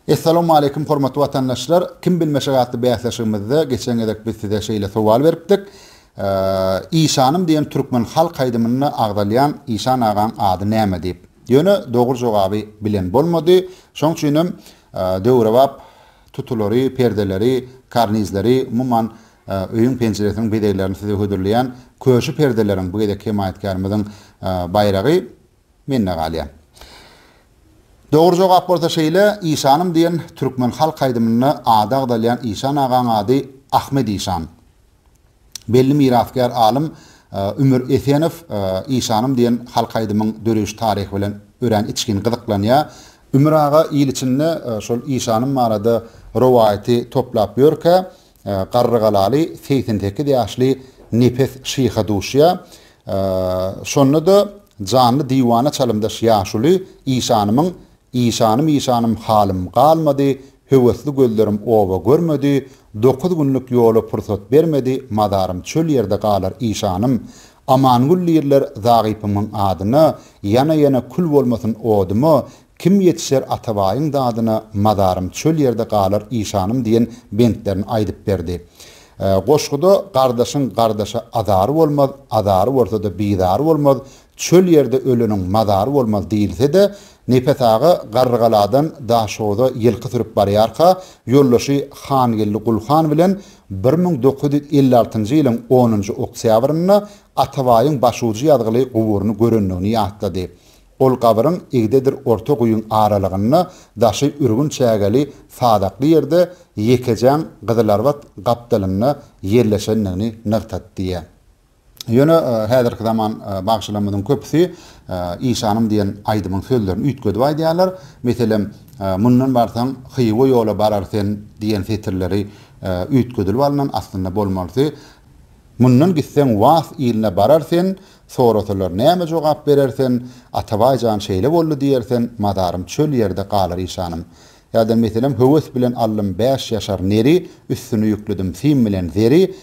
Essalawmaleýkim hormatly watandaşlar! Kim bilmeşek atly bäsleşigimizde geçen gezek biz size şeýle sowal beripdik. Işanym diýen türkmen halk aýdymynda agzalýan Işan agaň ady näme diýip. Ýöne dogry jogaby bilen bolmady. Şoň üçinem döwrebap tutulary, perdeleri, karnizleri, umuman öýüň penjiresiniň bezeglerini size hödürleýän köşi perdeleriň bu gezekki hemaýatkärimiziň baýragy. Mende galýar. Dogry jogap bolsa şeýle, Işanym diýen türkmen halk aýdymynda ady agzalýan Işan agaň ady Ahmet Işan. Belli mirasgär alym Ümür Esenow Işanym diýen halk aýdymyň döreýiş taryhy bilen örän içgin gyzyklanýar. Ümür aga il içinde şol Işanym barada rowaýaty toplap ýörkä, Garrygalaly segsen sekiz ýaşly Nepes şyha duşýar. Şonda-da janly diwana çalymdaş ýaşuly işanymyň Işanym, işanym, halym galmady, Höwesli gözlerim oba görmedi, Dokuz günlük ýola pursat bermedi, Mazarym çöl ýerde galar, işanym. Amangül diýirler Zagypymyň adyna, Ýana-ýana kül bolmasyn oduma, Kim ýetişer Atabaýyň dadyna Mazarym çöl ýerde galar işanym diýen bentlerini aýdyp berdi. Goşguda Gardaşyň gardaşa azary bolmaz, azary bolsa-da bizary bolmaz, çöl ýerde öleniň mazary bolmaz diýilse-de, Nepes aga Garrygaladan Daşoza ýylky sürüp barýarka, ýoldaşy Hangeldi Gulhan bilen bir müň dokuz ýüz elli altynjy ýylyň onunjy oktýabrynda Atabaýyň başujy ýazgyly guburyny görendigini ýatlady. Ol gabyryň igdedir orta guýyň aralygynda daşy ürgün çägeli sazakly ýerde ýekejaň gyzylarbat gapdalynda ýerleşendigini nygtatdy. Ýöne häzirki zaman bagşylarymyzyň köpüsi Işanym diýen aýdymyň sözlerini üýtgedip aýdýarlar. Meselem, Mundan barsaň, Hywa ýola barar sen diýen setirleri üýtgedilip alnan, aslynda bolmalysy, Mundan gitseň, Wahs iline barar sen, Sorasalar näme jogap berersen, Atabaý jan şeýle boldy diýersen, mazarym çöl ýerde galar işanym. Ýa-da meselem höwes bilen aldym bäş ýaşar neri, üstüni ýükledim sim bilen zeri,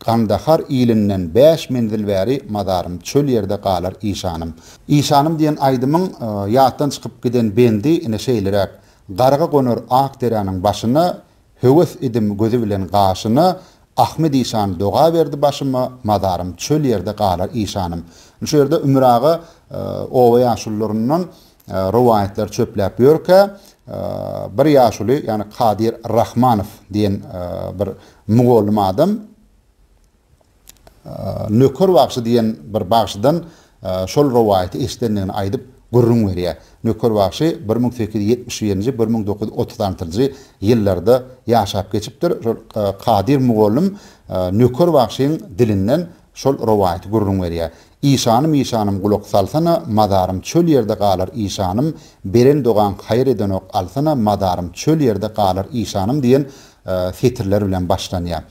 Gandahar ilinden bäş menzil bäri, mazarym çöl ýerde galar işanym. Işanym diýen aýdymyň ýatdan çykyp giden bendi ine şeýleräk, Garga gonar ak deräniň başyna, Höwes edim gözi bilen gaşyna Ahmet işan doga berdi başyma Mazarym çöl ýerde galar işanym. Indi şu ýerde Ümür aga oba ýaşulylaryndan rowaýatlar çöpläp ýörkä, bir ýaşuly, ýagny Kadyr Rahmanow diýen bir mugallym adam, Nöker bagşy diýen bir bagşydan şol rowaýaty eşidendigini aýdyp gürrüň berýär. Nöker bagşy bir müň sekiz ýüz ýetmiş birinji, bir müň dokuz ýüz otuz altynjy ýyllarda ýaşap geçipdir. Şol Kadyr mugallym Nöker bagşyň dilinden şol rowaýaty gürrüň berýär. Işanym, işanym, gulak salsana, Mazarym çöl ýerde galar, işanym, Beren dogaň haýyr edenok, alsana, Mazarym çöl ýerde galar, işanym diýen setirler bilen başlanýar.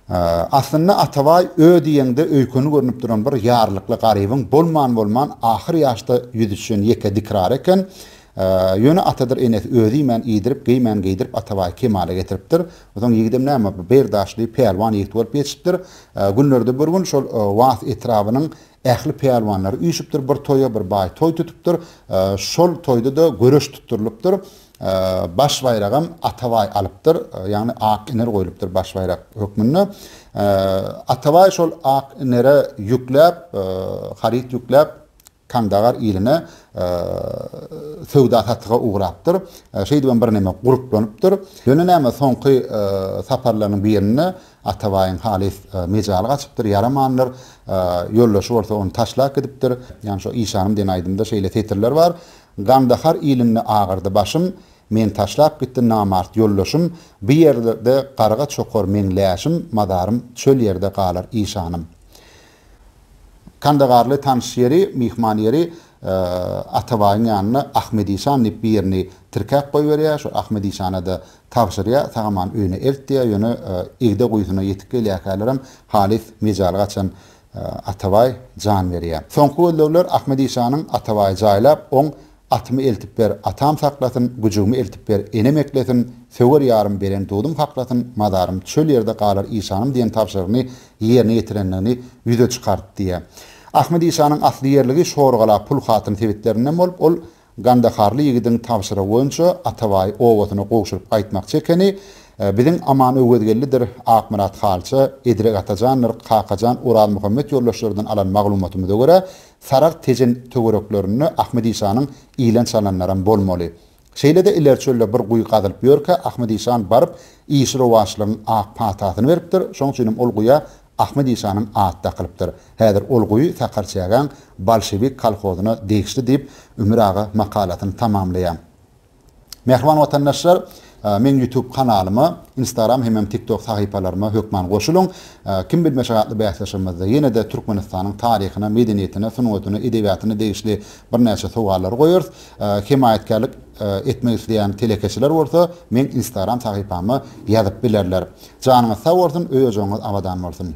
Aslynda Atabaý ö diýeňde öýkeni görnüp duran bir ýarlykly garybyň bolman-bolman ahyr ýaşda ýüz düşen ýeke dikrary eken. Ýöne atadyr enesi özi iýmän iýdirip, geýmän geýdirip Atabaýy kemala getiripdir. Onsoň ýigidem näme, bir berdaşly, pälwan ýigit bolup ýetişipdir. Günlerde bir gün şol Wahs etrabynyň ähli pälwanlary üýşüpdir bir toýa, bir baý toý tutupdyr. Şol toýda-da göreş tutdurylypdyr. Baş baýragam Atabaý alypdyr, ýagny Ak iner goýlupdyr baş baýrak hökmünde. Atabaý şol Ak inere ýükläp, haryt ýükläp, Kandagar iline söwda-satyga ugrapdyr. Şeýdibem birneme gurplanypdyr. Ýöne näme, soňky saparlarynyň birinde Atabaýyň halys mejaly gaçypdyr, ýaramandyr. Ýoldaşy bolsa ony taşlap gidipdir. Ýagny şo Işanym diýen aýdymda şeýle setirler bar. Gandahar ilinde agyrdy başym, Meni taşlap gitdi namart ýoldaşym, Bu ýerde garga çokar meň läşim, Mazarym çöl ýerde galar işanym. Kandagarly tanyş ýeri, myhman ýeri Atabaýyň ýanyna Ahmet işan diýip bir ýerini tirkäp goýberýär, şol Ahmet işana-da tabşyrýar, Sag-aman öýüne elt diýýär, ýöne Igde guýusyna ýetip gelýärkälerem halys mejaly gaçan Atabaý jan berýä. Soňky gözlegler Ahmedi şanyň Atabaýy jaýlap, oň Atymy eltip ber, atam saklasyn, güjügimi eltip ber, enem eklesin, söwer ýarym beren dudum haklasyn, mazarym çöl ýerde galar işanym diýen tabşyrygyny ýerine ýetirendigini ýüze çykartdy. Ahmedi şanyň asly ýerligi Şorgala, Pulhatyn sebitlerinden bolup, ol Gandaharly ýigidiň tabşyrygy boýunça Atabaýy obasyna gowşuryp gaýtmakçy ekeni, biziň Aman Öwezgeldidir, Akmyrat Halça, Edrek Atajandyr, Kakajan, Orazmuhammet ýoldaşlardan alan maglumatymyza görä, Saragt Tejen töwereklerinde Ahmet işanyň ilen çalanlaram bolmaly. Şeýle-de ileri çölde bir guýy gazylyp ýörkä Ahmet işan baryp, işi-rowaçlygyň ak patasyny beripdir, şoň üçinem ol guýa Ahmet işanyň at dakylypdyr. Häzir ol guýy Sakarçägäň bolşewik kolhozyna degişli diýip, Ümür aga makalasyny tamamlaýar. Mähriban watandaşlar, meň ýutub kanalyma, instagram hemem tiktok sahypalaryma hökman goşulyň. Kim bilmeşek atly bäsleşigimizde ýene-de Türkmenistanyň taryhyna, medeniýetine, sungatyna, edebiýatyna degişli birnäçe sowallary goýarys. Hemaýatkärlik. etmek isleýän telekeçiler bolsa meň instagram sahypama ýazyp bilerler. Janyňyz sag bolsun, öý-ojagyňyz abadan bolsun!